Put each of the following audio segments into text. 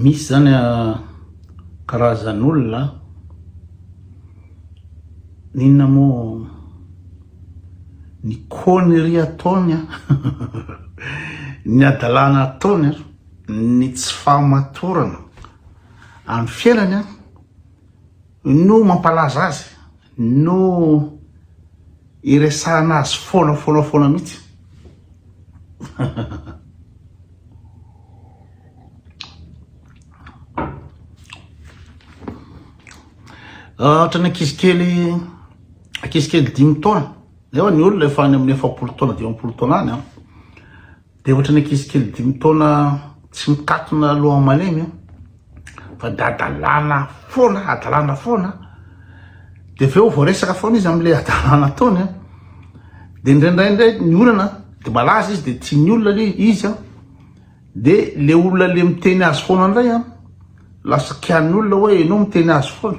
Misy zany karazan'olona an! N'inona moa ny conneries ataony an! Ny hadalana ataony an! Ny tsy fahamatorana amin'ny fiainany an! no mampalaza azy, no iresahana azy foana foana foana mihitsy. Ohatra ny ankizy kely, ankizy kely dimy taona, nefa ny olona efa any amin'ny efapolo taona, dimampolo taona any an. Dia ohatran'ny ankizy kely dimy taona tsy mikatona loha malemy io, fa dia hadalana foana, hadalana foana, dia avy eo vao resaka foana izy amin'ilay hadalana ataony an, dia indraindray indray ny olana, dia malaza izy dia tian'ny olona le izy an, dia le olona le miteny azy foana indray an, lasa kian'ny olona hoe ianao miteny azy foana.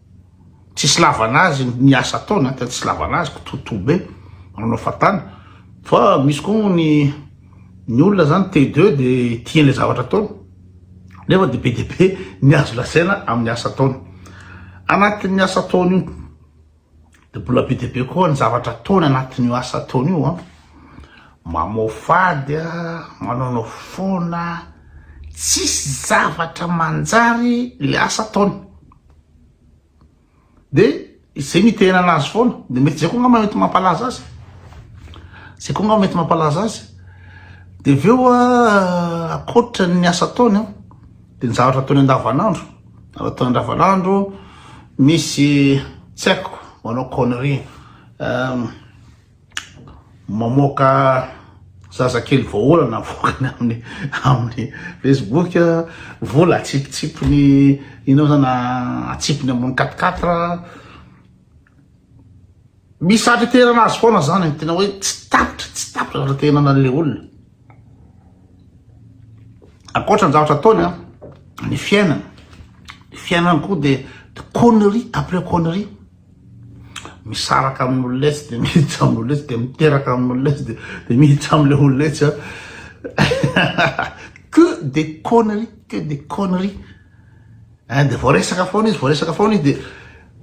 Tsisy lavana azy ny asa ataony an, tena tsisy lavana azy, kitoatoa be, manao fatana, fa misy koa moa ny ny olona zany te de de tiany le zavatra ataony, nefa dia be dia be ny azo lazaina amin'ny asa ataony. Anatin'ny asa ataony io dia mbola be dia be koa ny zavatra ataony anatin'io asa ataony io an, mamoafady an, manaonao foana, tsisy zavatra manjary le asa ataony. Dia izay mitehena anazy foana. Dia mety izay koa angamba mety mampalaza azy. Izay koa angamba mety mampalaza azy. Dia avy eo ah, akoatra ny asa ataony an, ah, dia ny zavatra ataony andavanandro. Zavatra ataony andavanandro, misy tsy haiko, manao connerie. Euh, mamoaka zazakely vahaolana avoakany amin'ny amin'ny Facebook vola atsipitsipiny inao zana atsipiny ambony katikatra misy satra terana azy foana zany tena hoe tsy tapitra tsy tapitra zatra tenana an'le olona ankoatra ny zavatra ataony a ny fiainana ny fiainana koa de connerie après connerie misaraka amin'ny olona etsy dia miditra amin'ny olona etsy dia miteraka amin'ny olona etsy dia miditra amin'ilay olona etsy a que des conneries que des conneries eh, dia vao resaka foana izy vao resaka foana izy dia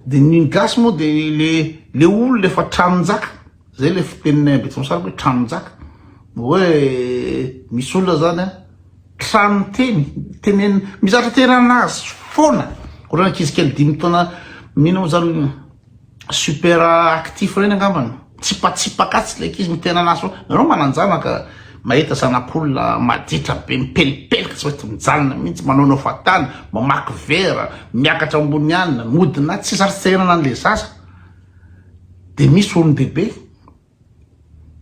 dia ny gasy moa dia le le olona efa tranon-jaka Zay le fiteninay Ambetsimisaraka hoe tranon-jaka. Hoe misy olona zany a, tranon teny, tenen, mizatra teny anazy foana. Ohatran ankizy kely dimy taona mino moa zany super actif reny angambany. Tsipatsipaka atsy le ankizy miteny anazy foana. Nareo manan-janaka mahita zanak'olona maditra be mipelipelika tsy mety mijanona mihitsy, manaonao fatana, mamaky vera, miakatra ambony anina, mody na tsy zary tsy te hiainana an'le zaza. Dia misy olon-dehibe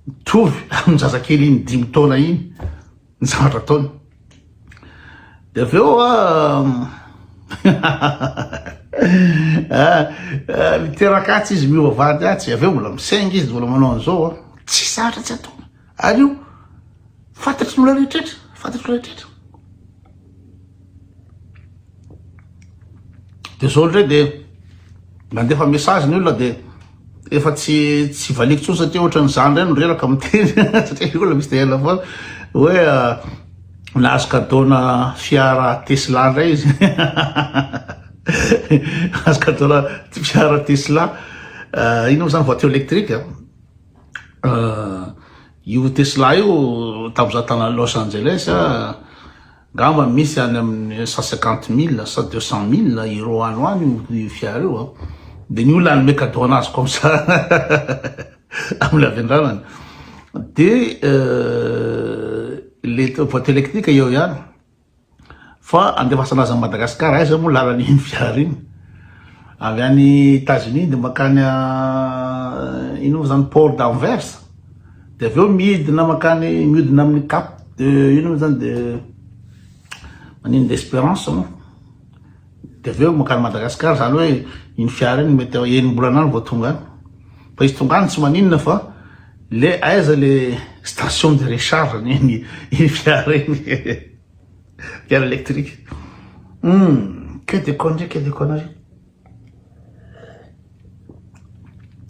mitovy amin'ny zazakely iny dimy taona iny ny zavatra ataony. Dia avy eo ah, miteraka atsy izy miova vady atsy, avy eo mbola misaingy izy, mbola manao an'izao, tsy zatra tsy atao. Ary io fantatry ny olona rehetrretra, fantatry olona rehetrretra. De zao ndray de mandefa message ny olona de efa tsy tsy valiko tsony satria ohatran'ny zany ndray no reraka miteny satria olona misy de ela foana hoe ah, nahazo kadona fiara Tesla ndray izy azo kadona fiara Tesla ah, ino moa zany voiture électrique ah. io Tesla io tamin'izaho tany Los Angeles angamba misy any amin'ny cent cinquante mille sa deux cent mille euros any ho any io fiara io, dia ny olona hanome cadeau an'azy comme ça amin'ny havendranany, dia ilay boite électrique eo ihany Fa andefasana azy any Madagascar aiza moa lalana iny fiara iny avy any Etats Unis de makany ino moa zany port d'Anvers de avy eo midina makany miodina amin'ny cap de ino moa zany de maninona de Esperance moa Dia avy eo mankany Madagascar, izany hoe iny fiara iny mety eo enim-bolana any vao tonga any. Fa izy tonga any tsy maninona fa le aiza le station de recharge ny iny iny fiara iny. Fiara électrique. Hum, que des conneries, que des conneries.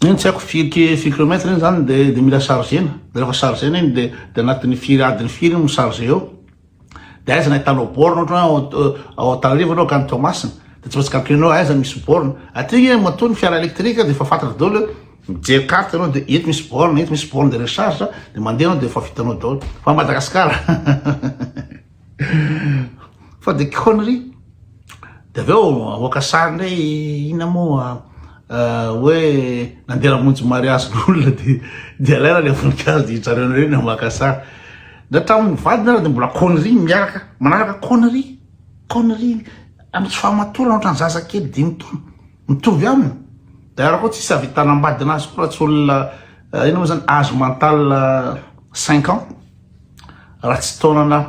Iny tsy haiko firy ki- firy kilomètre iny izany dia dia mila chargena. Dia rehefa chargena iny dia dia anatin'ny firy adiny firy iny mi-charge eo. de aiza ny ahitanao borne ohatra hoe ao Antananarivo enao ka any Toamasina de tsy maintsy calculer nao aiza misy borne aty nge matoa ny fiara électrique de efa fantatra daholo hoe mijery carte enao de eto misy borne eto misy borne de recharge de mandeha enao de efa vitanao daholo fa Madagascar fa de connerie de avy eo mamoaka sary ndray inona moa hoe nandeha namonjy mariazin'olona de de alaina le voninkazo de hijanona eo nareo ny maka sary Na tamin'ny vadiny ary dia mbola connerie miaraka manaraka connerie connerie amin'ny tsy fahamatorana ohatran'ny zaza kely dimy taona mitovy aminy d'ailleurs koa tsisy ahavitana ambadina azy koa raha tsy olona eh, inona moa zany âge mental eh, cinq ans raha tsy taonana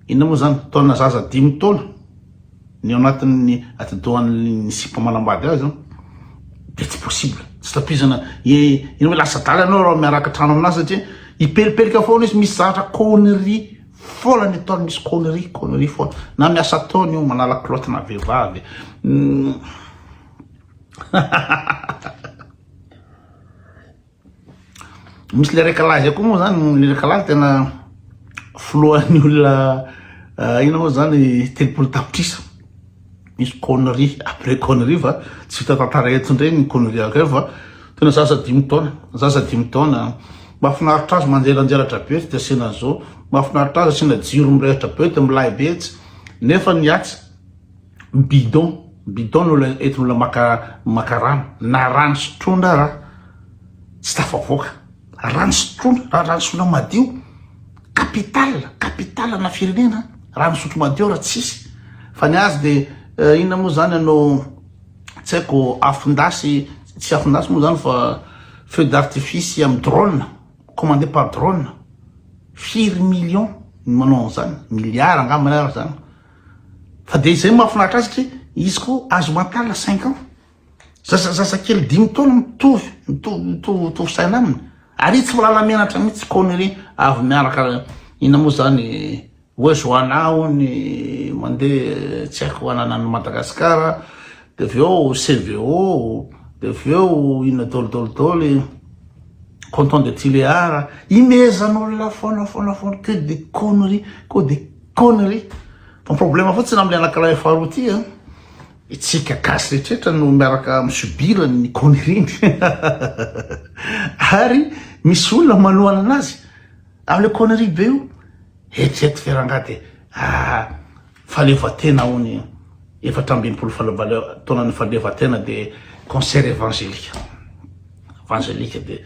inona moa zany taonana zaza dimy taona Ny ao anatin'ny atidohan'ny sipa manambady azy dia tsy possible, tsy tapizana e, iny hoe lasa adala ianao raha miaraka trano aminà satria hipelipelika foana izy, misy zavatra connerie foana ny ataony, misy connerie connerie foana, na miasa ataony io, manala culotte na vehivavy Misy le récalage koa moa zany, le récalage tena foloan'ny olona ina moa zany telopolo tapitrisa misy connerie après connerie fa tsy vita tantara eto ndray ny connerie akeo fa tena zaza dimy taona zaza dimy taona mahafinaritra azy manjelanjelatra be tsy de asiana zao mahafinaritra azy asiana jiro mirehitra be de milay be etsy nefa ny atsy bidon bidon no ilay entina olona maka maka rano na rano sotroina ara tsy tafavoaka rano sotroina raha rano sotroina madio capital capital na firenena rano sotro madio raha tsisy fa ny azy de eh, inona moa zany anao tsy haiko afindasy tsy afindasy moa zany fa feu d'artifice am drone commandé par drone firy million ny manao an'izany milliard angambany araka zany Fa dia izay no mahafinaritra azy satria izy koa âge mental à cinq ans. Zaza zazakely dimy taona mitovy mitovy mitovy mitovy saina aminy. Ary izy tsy mahalala menatra mihitsy connerie avy miaraka inona moa izany hoe Joana hono mandeha tsy haiko hanana an'i Madagasikara dia avy eo CVO dia avy eo inona dôly dôly dôly Canton de Tuléar. Imehezan'olona foana foana foana que des conneries que des Connerie. Fa ny problème fotsiny amin'ny anankiray faharoa ity an, itsika gasy rehetra no miaraka mi subir ny connerie-ny. Ary misy olona manohana anazy amin'ilay connerie be io. Eritrereto ve rangahy dia ah fahaleovantena hono efatra ambin'ny folo taonan'ny fahaleovantena dia concert évangélique. Évangélique dia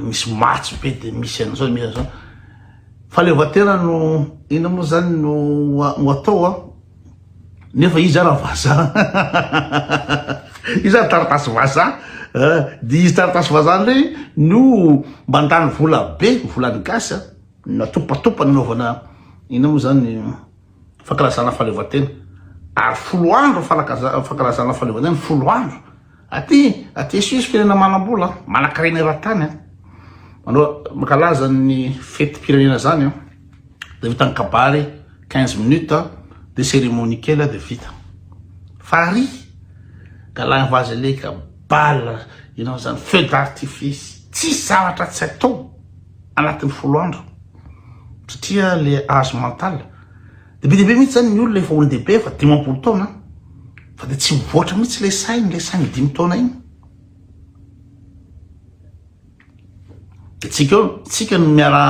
misy matso be dia misy an'izao misy an'izao. Fahaleovantena no inona moa zany no ho atao a? Nefa izy ara vazaha izy ara taratasy vazaha eh, dia izy taratasy vazaha indray no mandany vola be, volan'ny gasy a, natopatopa nanaovana inona moa zany fankalazana fahaleovantena, ary folo andro fankalazana fahaleovantena, folo andro. Aty aty à Suisse firenena manambola an, manankarena eran-tany an, manao mankalaza ny fetim-pirenena zany an, de vita ny kabary 15 minutes an, de cérémonie kely an de vita. Farihy galahy vaza leka bal inona zany feu d'artifice tsisy zavatra tsy atao anatin'ny folo andro satria le âge mental. Dia be dia be mihitsy zany ny olona efa olon-dehibe efa dimampolo taona an! Fa dia tsy mivoatra mihitsy ilay sainy, ilay sainy dimy taona iny. Dia tsika eo, tsika no miara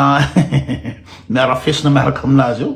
miara fesona miaraka aminazy eo.